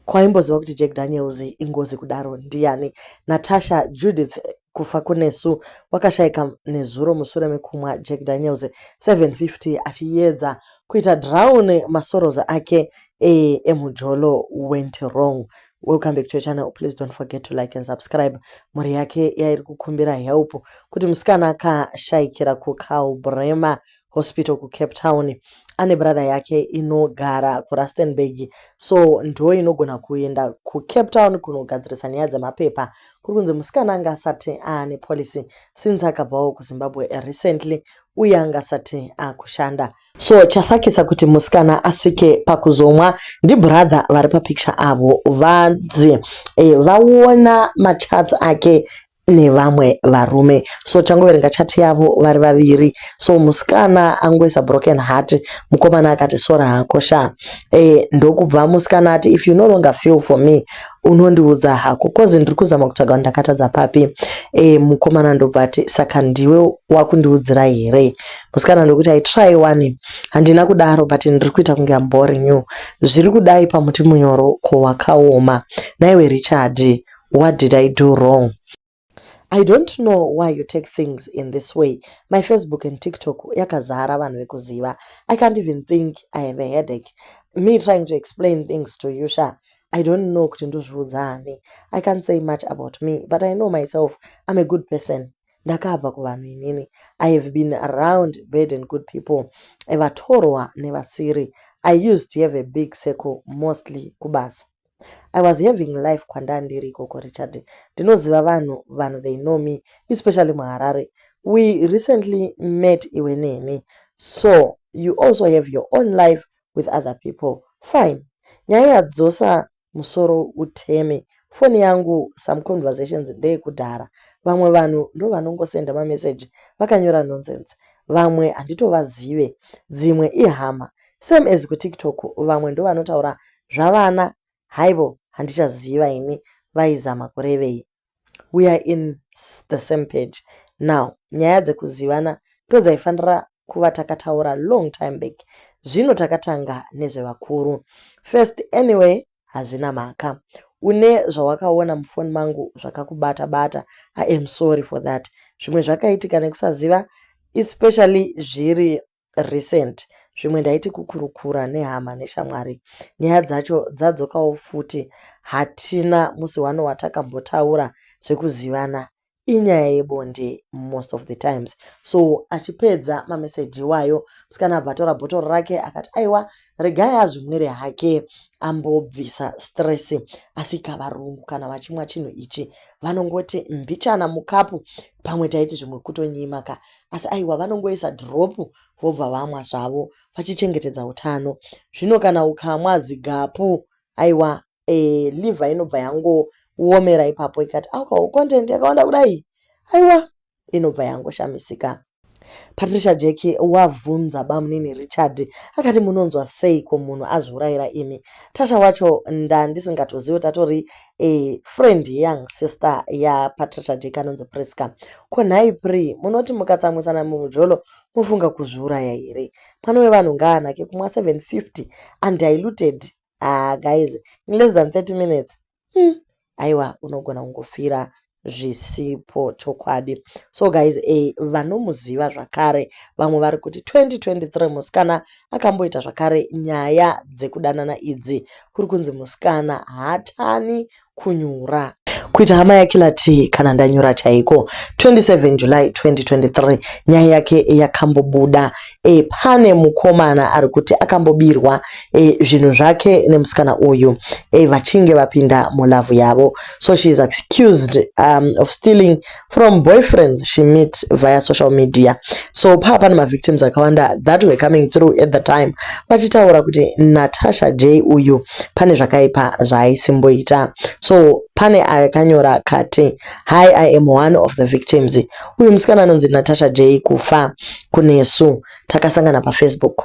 Ko aimboziva kuti Jack Daniels ingozi kudaro ndiyani? Natasha, Judith kufa kunesu wakashaika nezuro musure mekumwa Jack Daniels 750 achiyedza kuita drown masoros ake ee emujolo went wrong. Welcome back to your channel. Please don't forget to like and subscribe. Mhuri yake yairi kukumbira help kuti musikana akashaikira kuCalbrema hospital kucape town ane brother yake inogara kurustenburg so ndo inogona kuenda kucape town kunogadzirisa nyaya dzemapepa kuri kunzi musikana anga asati aane policy since akabvawo kuzimbabwe recently uye anga asati akushanda so chasakisa kuti musikana asvike pakuzomwa ndibrother vari papicture avo vanzi e, vaona machats ake nevamwe varume so tangoverenga chat yavo vari vaviri so musikana angoisa broken heart mukomana akati sora hako sha e, ndokubva musikana ati if you no longer feel for me unondiudza hako kozi ndiri kuzama kutsvaga ndakatadza papi e, mukomana ndobva ati saka ndiwe wakundiudzira here musikana ndokuti i try one handina kudaro but ndiri kuita kunge amboring you zviri kudai pamuti munyoro ko wakaoma naiwe richard What did I do wrong? I don't know why you take things in this way. My Facebook and TikTok yakazara vanhu vekuziva. I can't even think I have a headache. Me trying to explain things to you, Sha. I don't know kuti ndozviudza ani. I can't say much about me, but I know myself I'm a good person. ndakabva kuvanhu inini i have been around bad and good people vatorwa nevasiri i used to have a big circle mostly kubasa I was having life kwandaa ndiri ikoko Richard ndinoziva vanhu vanhu they know me especially muHarare we recently met iwe neni so you also have your own life with other people fine nyaya yadzosa musoro uteme foni yangu some conversations ndeyekudhara vamwe vanhu ndovanongosenda mameseji vakanyora nonsense vamwe handitovazive dzimwe ihama same as kutiktok vamwe ndovanotaura zvavana haivo handichaziva ini vaizama kurevei we are in the same page now nyaya dzekuzivana ndodzaifanira kuva takataura long time back zvino takatanga nezvevakuru first anyway hazvina mhaka une zvawakaona mufoni mangu zvakakubata bata i am sorry for that zvimwe zvakaitika nekusaziva especially zviri recent zvimwe ndaiti kukurukura nehama neshamwari nyaya dzacho dzadzokawo futi hatina musi wano watakambotaura zvekuzivana inyaya yebonde most of the times so achipedza mameseji iwayo musikana abva atora bhotoro rake akati aiwa regai azvimwire hake ambobvisa stress asika varungu kana vachimwa chinhu ichi vanongoti mbichana mukapu pamwe taiti zvimwe kutonyimaka asi aiwa vanongoisa drop vobva vamwa zvavo vachichengetedza utano zvino kana ukamwa zigapu aiwa e, liver inobva yangoomera ipapo ikati alcohol content yakawanda kudai aiwa inobva yangoshamisika patricia jeki wavhunza bamunini richard akati munonzwa seiko munhu azviurayira imi tasha wacho ndandisingatozive tatori eh, friend young sister yaPatricia Dick anonzi Prisca. Ko nhai Pri, munoti mukatsamwisana mumujolo mofunga kuzviuraya here? Mwana wevanhu ngaanake kumwa 750 undiluted. Ah guys, in less than 30 minutes. Hmm, aiwa unogona kungofira zvisipo chokwadi so guys a eh, vanomuziva zvakare vamwe vari kuti 2023 musikana akamboita zvakare nyaya dzekudanana idzi kuri kunzi musikana haatani kunyura kuita hama yakilati kana ndanyura chaiko 27 july 2023 nyaya yake yakambobuda e, pane mukomana ari kuti akambobirwa e, zvinhu zvake nemusikana uyu e, vachinge vapinda mulavhu yavo So she is accused um, of stealing from boyfriends she met via social media. So paa pane mavictims akawanda that were coming through at the time vachitaura kuti Natasha J uyu pane zvakaipa zvaaisimboita. So pane akanyora kati hi i am one of the victims uyu musikana anonzi natasha j kufa kunesu takasangana pafacebook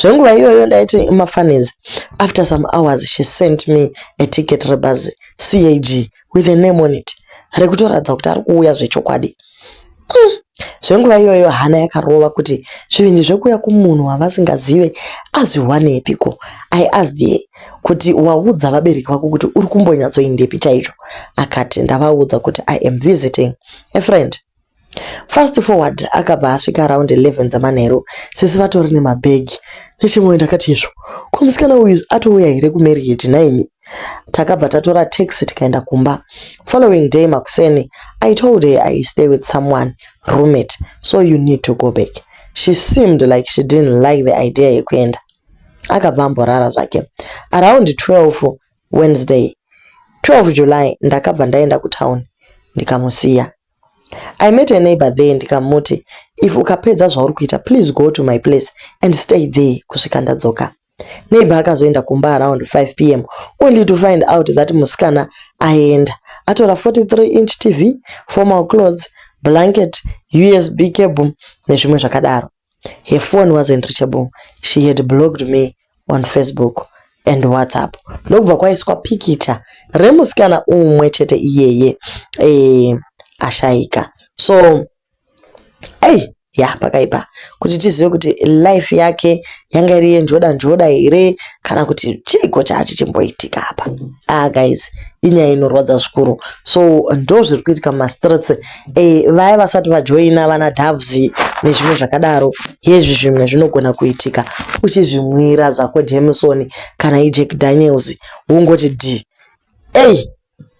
zvenguva iyoyo ndaiti mafunnies after some hours she sent me a ticket rebhazi cag with a name on it rekutoratidza kuti ari kuuya zvechokwadi mm. zvenguva iyoyo hana yakarova kuti zvivindi zvekuuya kumunhu wavasingazive azviwanepiko i asked ye kuti waudza vabereki vako kuti uri kumbonyatsoindepi chaicho akati ndavaudza kuti i am visiting a friend Fast forward akabva asvika around 11 dzamanheru sisi vatori nemabag nechimwe ndakati izvo ko musikana uyu atouya here kumarriage nhaimi takabva tatora taxi tikaenda kumba following day makuseni i told her i stay with someone roommate so you need to go back she seemed like she didn't like the idea yekuenda akabva amborara zvake around 12 wednesday 12 july ndakabva ndaenda kutown ndikamusiya I met a neighbor there ndikamuti if ukapedza zvauri kuita please go to my place and stay there kusvika ndadzoka. Neighbor akazoenda kumba around 5 pm only to find out that musikana aenda atora 43 inch TV, formal clothes, blanket, USB cable nezvimwe zvakadaro. Her phone wasn't reachable, she had blocked me on Facebook and WhatsApp ndokubva kwaiswa pikicha remusikana umwe chete iyeye eh, ashaika so ei ya pakaipa kuti tizive kuti life yake yanga iri yenjoda njoda here kana kuti chiiko chaachi chimboitika apa ah guys inyaya inorwadza zvikuru so ndo zviri kuitika mumastreets e, vaya vasati vajoina vana doves nezvimwe zvakadaro hezvi zvimwe zvinogona kuitika uchizvimwira zvako jameson kana ijack daniels wongoti d ei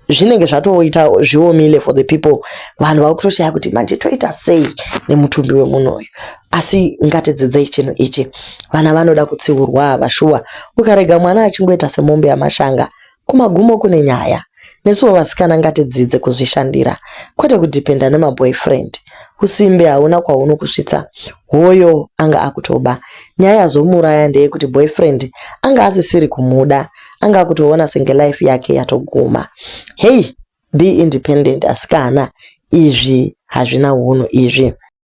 zvinenge zvatoita zviomile for the people vanhu vakutoshaya kuti manje toita sei nemutumbi wemunhu uyu asi ngatidzidzei chinhu ichi vana vanoda kutsiurwa vashuwa ukarega mwana achingoita semombe yamashanga Kumagumo kune nyaya. Nesuwo vasikana ngatidzidze kuzvishandira kwete kudepender nema boyfriend. Husimbe hauna kwahunokusvitsa hoyo anga akutoba. Nyaya yazomuuraya ndeyekuti boyfriend anga asisiri kumuda anga akutoona senge life yake yatoguma. Hey be independent asikana izvi hazvina hunhu izvi.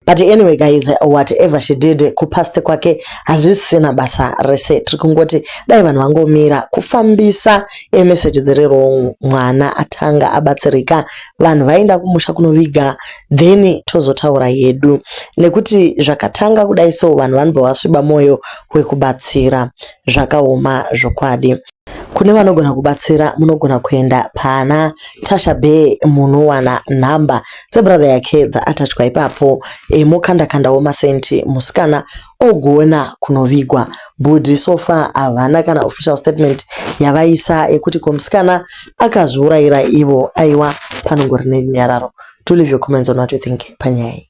but anyway guys whatever she did kupast kwake hazvisisina basa rese tiri kungoti dai vanhu vangomira kufambisa emeseji dziri wrong mwana atanga abatsirika vanhu vaenda kumusha kunoviga then tozotaura yedu nekuti zvakatanga kudai so vanhu vanobva vasviba mwoyo wekubatsira zvakaoma zvokwadi Kune vanogona kubatsira munogona kuenda pana Tasha Bee munowana nhamba dzebrother yake dzaatachwa ipapo e, mokandakandawo masenti musikana ogona kunovigwa. Bhudhi so far havana kana official statement yavaisa yekuti ko musikana akazviurayira ivo aiwa panongori nerunyararo. Do leave your comments on what you think panyaya iyi.